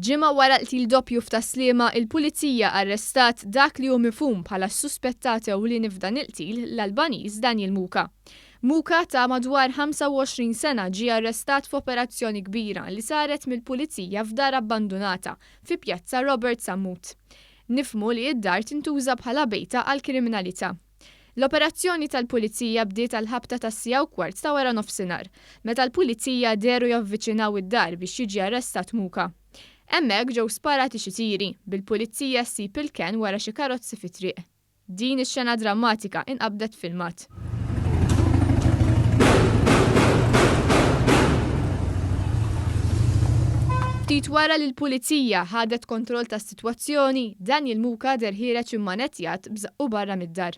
Ġimgħa wara qtil doppju f'Tas-Sliema, il-Pulizija arrestat dak li hu mifhum bħala s-suspettat ewlieni f'dan il-qtil, l-Albaniż Daniel Muka. Muka ta' madwar 25 sena ġie arrestat f'operazzjoni kbira li saret mill-Pulizija f'dar abbandunata fi Pjazza Robert Sammut. Nifhmu li d-dar tintuża bħala bejta għall-kriminalità. L-operazzjoni tal-Pulizija bdiet għall-ħabta tas-siegħa u kwart ta' wara nofsinhar, meta l-Pulizija dehru javviċinaw id-dar biex jiġi arrestat Muka. Hemmhekk ġew sparati xi tiri, bil-Pulizija ssib il-kenn wara xi karozzi fit-triq. Din ix-xena drammatika inqabdet filmat. Ftit wara li l-Pulizija ħadet kontroll tas. Twazzjoni, Daniel Muka deher ħiereġ immanettjat b'żaqqu barra mid-dar.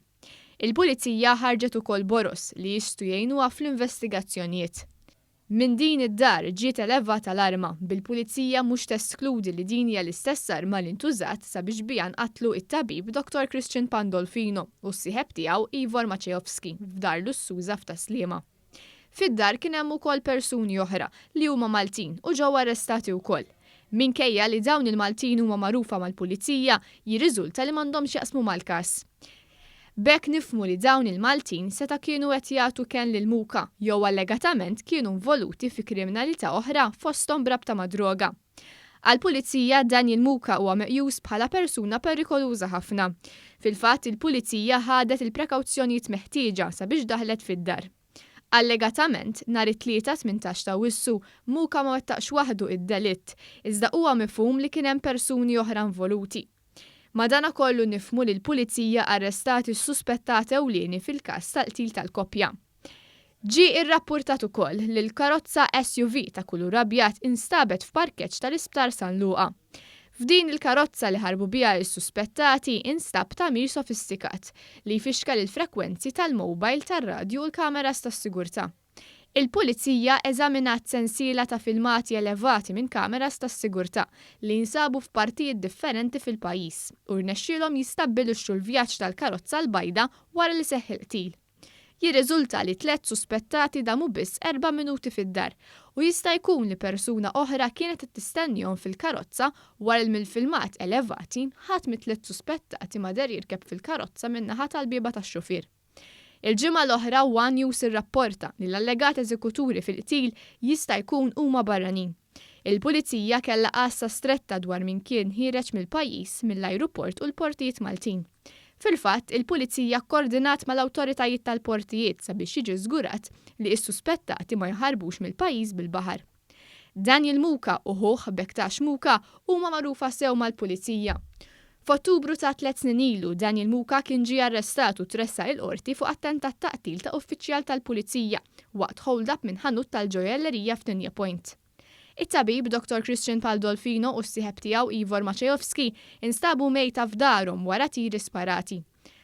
Il-Pulizija ħarġet ukoll boroż li jistgħu jgħinuha fl-investigazzjonjiet. Minn din id-dar ġiet elevata l-arma, bil-Pulizija mhux teskludi li din hija l-istess arma li ntużat sabiex biha nqatlu it-tabib Dottor Christian Pandolfino u s-sieħeb tiegħu Ivor Maceovski f'dar lussuża f'Tas-Sliema. Fid-dar kien hemm ukoll persuni oħra li huma Maltin u ġew arrestati wkoll. Minkejja li dawn il-Maltin huma magħrufa mal-Pulizija, jirriżulta li m'għandhom x'jaqsmu mal-każ. B'hekk nifhmu li dawn il-Maltin seta' kienu qed jagħtu kenn lil Muka jew allegatament kienu nvoluti fi kriminalità oħra fosthom b'rabta mad-droga. Għall-Pulizija, Daniel Muka huwa meqjus bħala persuna perikoluża ħafna. Fil-fatt, il-Pulizija ħadet il-prekawzjonijiet meħtieġa sabiex daħlet fid-dar. Allegatament, nhar it-Tlieta, tmintax ta' Awwissu, Muka ma wettaqx waħdu id-delitt, iżda huwa mifhum li kien hemm persuni oħra involuti. Madanakollu nifhmu li l-Pulizija arrestat is-suspettat ewlieni fil-każ tal-qtil tal-koppja. Ġie rrappurtat ukoll li l-karozza SUV ta' kulur abjad instabet f'parkeġġ tal-Isptar San Luqa. F'din il-karozza li ħarbu biha s-suspettati instab tagħmir sofistikat li jfixkel il-frekwenzi tal-mowbajl tar-radju u l-kameras tas-sigurtà. Il-Pulizija eżaminat sensiela ta' filmati elevati minn kameras tas-sigurtà li jinsabu f'partijiet differenti fil-pajjiż u rnexxielhom jistabbilixxu l-vjaġġ tal-karozza l-bajda wara li seħħ il-qtil. Jirriżulta li tliet suspettati damu biss erba' minuti fid-dar u jista' jkun li persuna oħra kienet qed tistennihom fil-karozza wara li mill-filmat elevati ħadd mit-tliet suspettati ma deher jirkeb fil-karozza min-naħa tal-bieba tax-xufier. Il-ġimgħa l-oħra one News irrapporta li l-allegat eżekuturi fil-qtil jista' jkun huma barranin. Il-Pulizija kellha għassa stretta dwar min kien ħiereġ mill-pajjiż mill-ajruport u l-portijiet Maltin. Fil-fatt, il-Pulizija kkordinat mal-awtoritajiet tal-portijiet sabiex jiġi żgurat li s-suspettati ma jaħarbux mill-pajjiż bil-baħar. Daniel Muka u ħuh Bektash Muka huma magħrufa sew mal-Pulizija. F'Ottubru ta' tliet snin ilu, Daniel Muka kien ġie arrestat u tressaq il-Qorti fuq attentat ta' qtil ta' uffiċjal tal-Pulizija waqt hold-up minn ħanut tal-ġojellerija f'Nigna Point. It-tabib, Dottor Christian Paldolfino u s-sieħeb tiegħu Ivor Maciejowski instabu mejta f'darhom wara tiri sparati.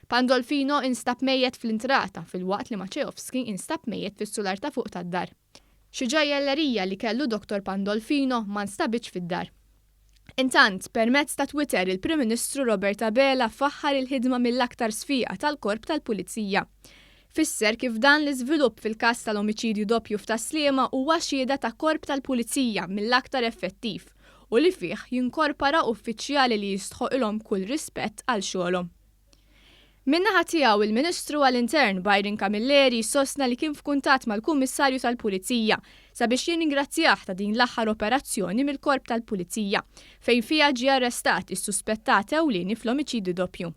Pandolfino instab mejjet fl-intrata filwaqt li Maciejowski instab mejjet fis-sular ta' fuq tad-dar. Xi ġajjellerija li kellu Dottor Pandolfino ma nstabitx fid-dar. Intant, permezz ta' Twitter il-Prim Ministru Robert Abela faħħar il-ħidma mill-aktar sfiqa tal-Korp tal-Pulizija. Fisser kif dan l-iżvilupp fil-każ tal-omiċidju doppju f'Tas-Sliema huwa xhieda ta' Korp tal-Pulizija mill-aktar effettiv u li fih jinkorpara uffiċjali li jistħoqilhom kull rispett għal xogħolhom. Min-naħa tiegħu, il-Ministru għall-Intern, Byron Camilleri, sostna li kien f'kuntatt mal-Kummissarju tal-Pulizija sabiex jirringrazzjah ta' din l-aħħar operazzjoni mill-Korp tal-Pulizija, fejn fiha ġie arrestat is-suspettat ewlieni fl-omiċidju doppju.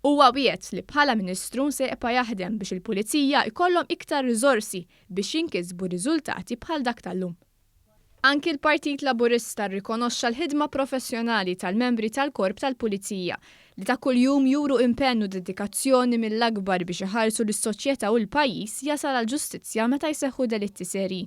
Huwa wiegħed li bħala Ministru se jibqa' jaħdem biex il-Pulizija jkollhom iktar riżorsi biex jinkisbu riżultati bħal dak tal-lum. Anki l-Partit Laburista rrikonoxxa l-ħidma professjonali tal-membri tal-Korp tal-Pulizija, li ta' kuljum juru impenn u dedikazzjoni mill-akbar biex iħarsu lis-soċjetà u l-pajjiż jasal għall-ġustizzja meta jseħħu delitti serji.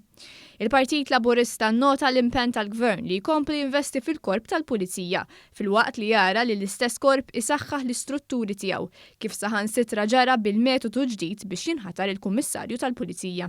Il-Partit Laburista nnota l-impenn tal-Gvern li jkompli jinvesti fil-Korp tal-Pulizija, filwaqt li jara li l-istess Korp isaħħaħ l-istrutturi tiegħu, kif saħansitra ġara bil-metodu ġdid biex jinħatar il-Kummissarju tal-Pulizija.